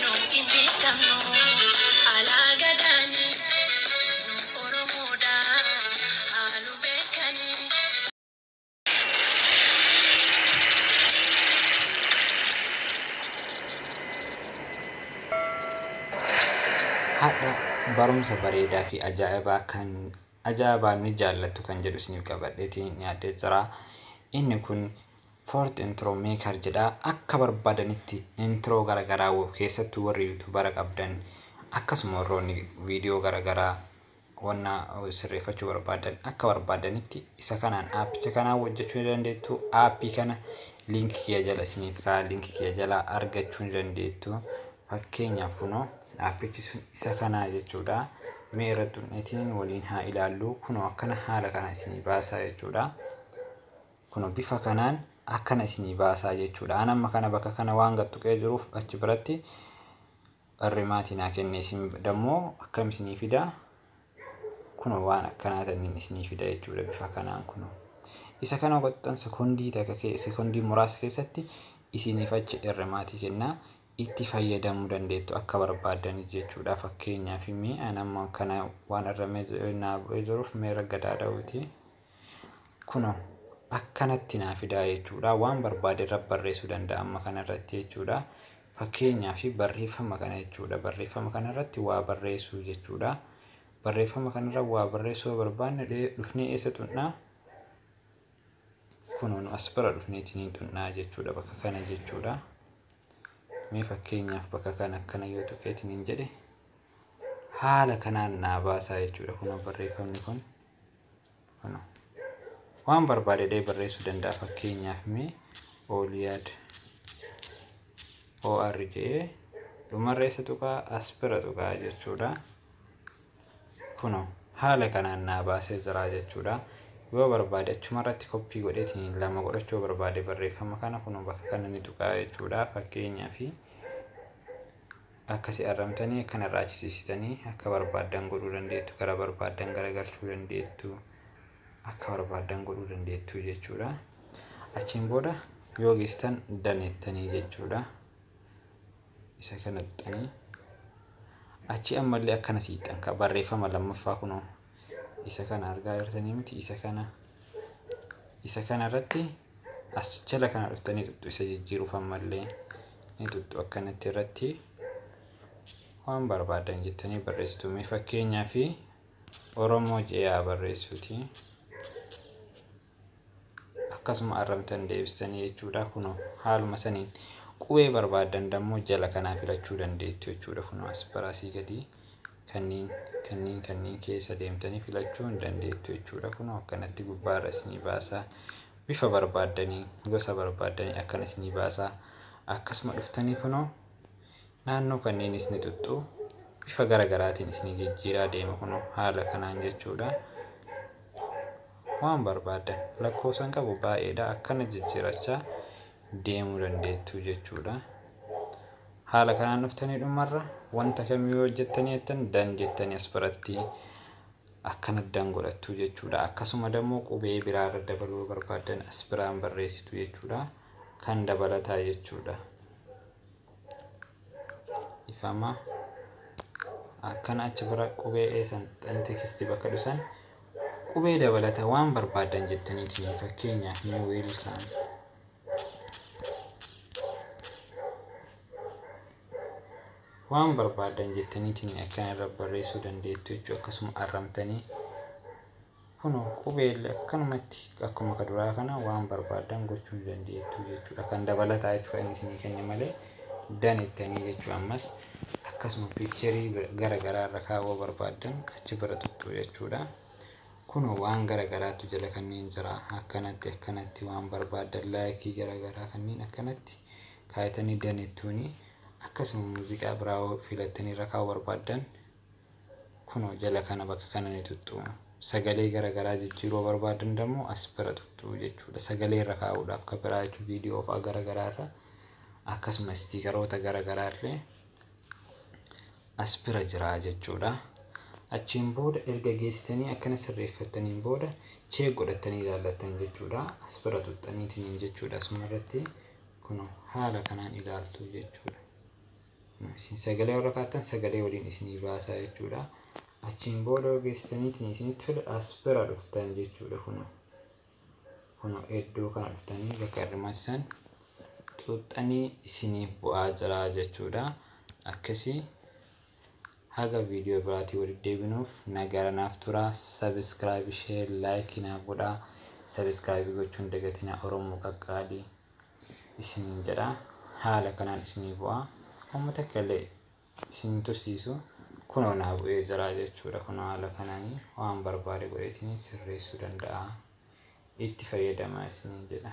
Nu hin beekamnu alaa gadaani nu oromoodha haalu beekani. Hadha barumsa bareedaa fi ajaa'ibaa kan ajaa'ibaa ni jaallattu kan jedhu isiniif qabadheetiin dhiyaadhee jira. Inni kun Fourth intro maker jedha akka barbaadanitti intro gara garaa wb keessattu warri youtubara qabdan akkasuma warroonni video gara garaa wanna sirreeffachuu barbaadan akka barbaadanitti isa kanaan aappicha kanaan hojjechuu ni dandeettu aappii kana link kiya jala isiniif kaa link kiya jala argachuu ni dandeettu fakkeenyaaf kunoo aappichi sun isa kanaa jechuudha mee irratti hunnetiin waliin haa ilaallu kunoo akkana haala kana isinii baasaa jechuudha Kuno bifa kanaan akkana isinii baasaa jechuudha. An amma kana bakka kana waan gad tuqee jiruuf achi biratti barreemaatii naa kenne isin dammoo akkam isinii fida kuno waan akkanaa tanniin isinii fida jechuudha bifa kanaan kuno. Isa kana goxxan sekondii takka kee sekondii muraasa keessatti isiniif achi erremaatii kennaa itti fayyadamuu dandeettu akka barbaadanii jechuudha fakkeenyaaf mee an amma kana waan erramee naa bu'ee jiruuf mee ragga daada'uutii. Kunoo akkanatti naa fidaa jechuudha. Waan barbaade irra barreessuu danda'a amma kana irratti jechuudha. Fakkeenyaa fi barreeffama kana jechuudha. Barreeffama kana irratti waa barreessuu jechuudha. Barreeffama kana irra waa barreessuu yoo barbaanne dhee- dhufnee eessa tuqnaa? Kunoo nu as bira dhufneetiin hin tuqnaa jechuudha bakka kana jechuudha. Mee fakkeenyaaf bakka kana akkana yoo tuqeetiin hin jedhe haala kanaan naa baasaa jechuudha. Kunoo barreeffamni kun waan barbaade illee barreessuu danda'a fakkeenyaaf mee ooliyaad or jedhee dhumarra isa tuqaa as bira tuqaa jechuudha kuno haala kanaan naa baasee jira jechuudha yoo barbaade achuma irratti koppii godheetiin lama godhachuu barbaade barreeffama kana kuno bakka kana ni tuqaa jechuudha fakkeenyaaf Akka si arramtani akka narraa achisisitani akka barbaaddan godhuu dandeettu gara barbaaddan garagalchuu dandeettu akka barbaaddan godhuu dandeettu jechuudha achiin booda yoo geessitan daneettanii jechuudha isa kana tuqxanii achi ammallee akkana siixxan ka barreeffama lammaffaa kunoo isa kana argaa jirtanii miti isa kana isa kana irratti as jala kana dhuftanii tuttu isa jijjiiruuf ammallee ni tuttu akkanatti irratti waan barbaadan jettanii barreessitu mee fakkeenyaa fi oromoo je'aa barreessuuti akkasuma arrabdan deebistanii jechuudha kuno haaluma saniin qubee barbaadan dammoo jala kanaa filachuu dandeettu jechuudha kuno asparasii gadii kanniin kanniin kanniin keessa deemtanii filachuu hin dandeettu jechuudha kuno akkanatti gubbaarra isinii baasaa bifa barbaadanii gosa barbaadanii akkana isinii baasaa akkasuma dhuftanii kuno Naannoo kanniinis ni xuxxu. Bifa gara garaatiin isinii jijjiiraa deema kunoo haala kanaan jechuudha. Waan barbaaddan lakkoofsan qabu baay'eedha akkana jijjiirachaa deemuu dandeettu jechuudha. Haala kanaan dhuftanii dhumarra wanta kamiyyuu hojjettanii jettan dan jettanii as biratti akkana dan godhattu jechuudha. Akkasuma dammoo qubee biraarra dabaluu barbaaddan as biraan barreessitu jechuudha. Kan dabalataa jechuudha. ifama akkana achi bira qubee eesan xani tekisti bakka dhusan qubee dabalata waan barbaadan jettanii kiyya fakkeenyaaf ni wiilkaan waan barbaadan jettanii kiyya akkana irra barreessuu dandeettu jechuu akkasuma arramtanii Kunoo qubeelli akkanumatti akkuma ka duraa kana waan barbaaddan gochuu ni dandeettu jechuudha. Kan dabalataa jechuudha inni isinii kenne malee dan ittanii jechuu ammas akkasuma piikcherii gara garaa irra kaawwa barbaaddan achi bira tuttuu jechuudha. Kunoo waan gara garaattu jala kanneen jira akkanatti akkanatti waan barbaaddan laayikii gara garaa kanneen akkanatti kaayatanii dan ittuuni akkasuma muuziqaa biraa filattanii irra kaawwa barbaaddan Kunoo jala kana bakka kana ni tuxxu. Sagalee gara garaa jijjiiruu yoo barbaadan dammoo as bira tuxxu jechuudha. Sagalee irra kaa'uudhaaf kan biraa jechuun viidiyoo fa'aa gara garaa irra akkasuma istiikaroota gara garaa illee as bira jira jechuudha. Achiin booda erga geessitanii akkana sirreeffattaniin booda cheek godhattanii ilaallattan jechuudha. As bira tuxxaniitiin jechuudha asuma irratti kunoo haala kanaan ilaaltu jechuudha. Isin sagalee warra kaattan sagalee waliin isinii baasaa jechuudha. Achiin booda geessitaniitiin isinitti tole as bira dhuftan jechuudha kuno. Kuno iddoo kana dhuftanii bakka irmaatti san xuuxxanii isiniif bu'aa jira jechuudha. Akkasii haga viidiyoo biraatii walitti deebinuuf nagaara naaf tura. Sabiskiraayibii, sheer, laayikii naaf godhaa. Sabiskiraayibii gochuun dagatina Oromoo qaqqaalii. isiniin jedha. Haala kanaan isinii bu'a. Homma takka illee isin hin tursiisu. Kunoo naa bu'ee jira jechuudha. Kunoo haala kanaan waan barbaade godheetiin sirreessuu danda'a. Itti fayyadamaa isiniin jedha.